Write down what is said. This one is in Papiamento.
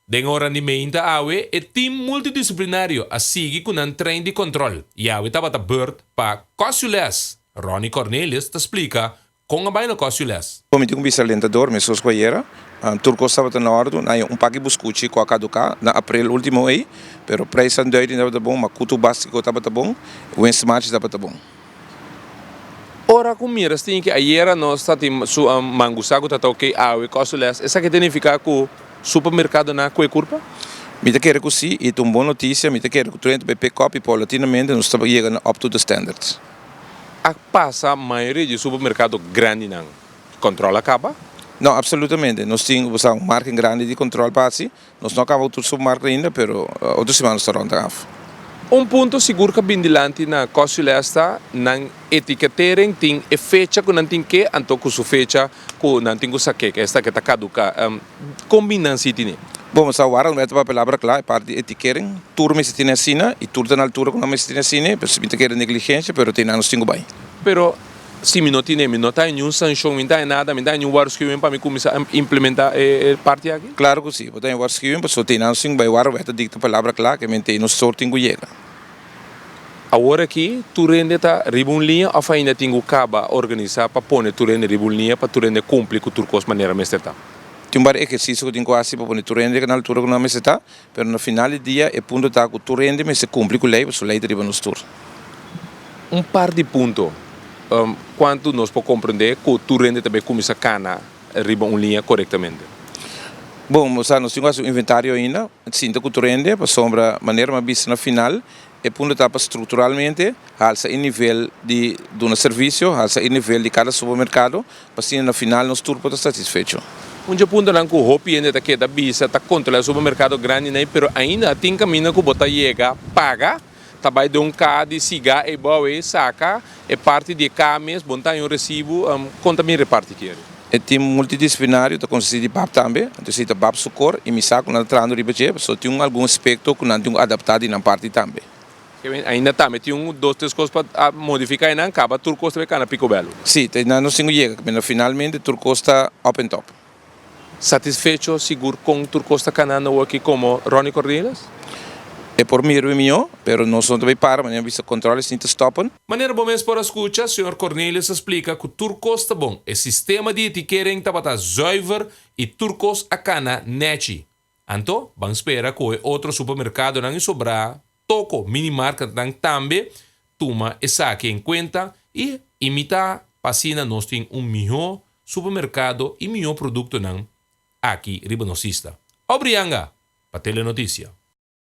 Den ora di meinta awe e team multidisciplinario a sigui cu nan train di control y awe tabata beurt pa Cosio Les. Ronnie Cornelius ta splica con a bay na Cosio Les. Comiti cu bicalentador mesos cu ayera tur cos tabata na ordu, nan haya un paki buscuchi cu a caduca na April ultimo ey, pero prijsnan duiding tabata bon, macuto bastico tabata bon, Winstmarch tabata bon. Ora ku mira stiñe ke ayera nos ta tin su mangusá ku ta ta oke awe kòstol lès, esaki ta nifiká ku supermerkadonan kue kurpa? Mi ta kere ku sí, i ta un bon notisia. Mi ta kere ku Twente bai pek kòp i paulatinamente nos ta yega na up-to-the standards. A pasa mayoria di e supermerkado grandinan kòntròl a kaba? No, apsolutamente. Nos tin un margen grandi di kòntròl pa hasi. Nos no a kaba tur submark ainda pero otro siman nos ta rond den af. Un punto sigur ka bin dilanti na Kosule a sta nan etiketering tin e fecha ku nan tin ke anto ku su fecha ku nan tin ku sa ke ke esta ke ta kaduka. Kon bin nan si tine? Bo mester a wara un mester papelabra kla e parti di etikering. Tur mester tine asina i tur ta na altura ku nan mester tine asina. Pues si bin ta keda negligensha pero te nan nos tin ku bai. Pero Si mi no tine, mi no ta hay niun sancion, mi no ta hay nada, mi no ta hay niun waruskiwing pa mi kuminsá implementa e parti aki? Klaru ku si, bo ta hay waruskiwing pasobra tin nan sin bai wara bo ta dikta palabra kla ke menti ei nos stor tin ku yega. Awor aki tur hende ta riba un liña òf ainda tin ku kaba organisá pa pone tur hende riba un liña pa tur hende kumpli ku tur kos manera mester ta? Tin un par di ehersisio ku tin ku hasi pa pone tur hende na altura ku nan mester ta. Pero na final di dia e punto ta ku tur hende mester kumpli ku lei pasobra lei ta riba nos tur. Un par di punto kuantu nos por komprendé ku tur hende ta bai kuminsá kana riba un liña korektamente. Bon, nos tin ku hasi un inventario ainda. Sinta ku tur hende pasobra manera mi a bisa na final. E punto ta pa structuralmente halsa e nivel di duna servicio, halsa e nivel di cada supermercado, p'asina na final nos tur por ta satisfecho. Un dje puntonan cu hopi hende ta keda bisa ta controla e supermercado grandinan, pero ainda a tin camino cu bo ta yega paga, ta bay den un caha di siga eybouw ey saca E parti di e ka mes bon ta haña un resibu, kon ta bin reparti kere? E tim multidisciplinario ta konsisti di bap tambe, anto esei ta bap su kor i misa ku nan ta trahando riba dje, so tin un algun aspekto ku nan tin ku adaptá di nan parti tambe. Kevin, Ainda tambe tin un dos tres kos pa modifiká i nan kaba tur kos tambe kana pikobèl. Sí, ta nan nos tin ku yega kaminda finalmente tur kos ta òp en tòp. Satisfecho sigur con tur cos ta cana nou aki como Ronnie Cornelius? E por mira be mijo, pero nos no ta bay para manera vista controles ni ta stoppen. Manera bo mes por a scucha, Señor Cornelius a splica cu tur cos ta bon. E sistema di etikering tabata zuiver y tur cos a cana nechi. Anto, ban spera cu e otro supermercadonan y sobra toco minimarketnan tambe tuma esaki en cuenta y imita pa asina nos tin un miho supermercado y miho productonan aki riba nos isla. Obrianga pa Telenoticia.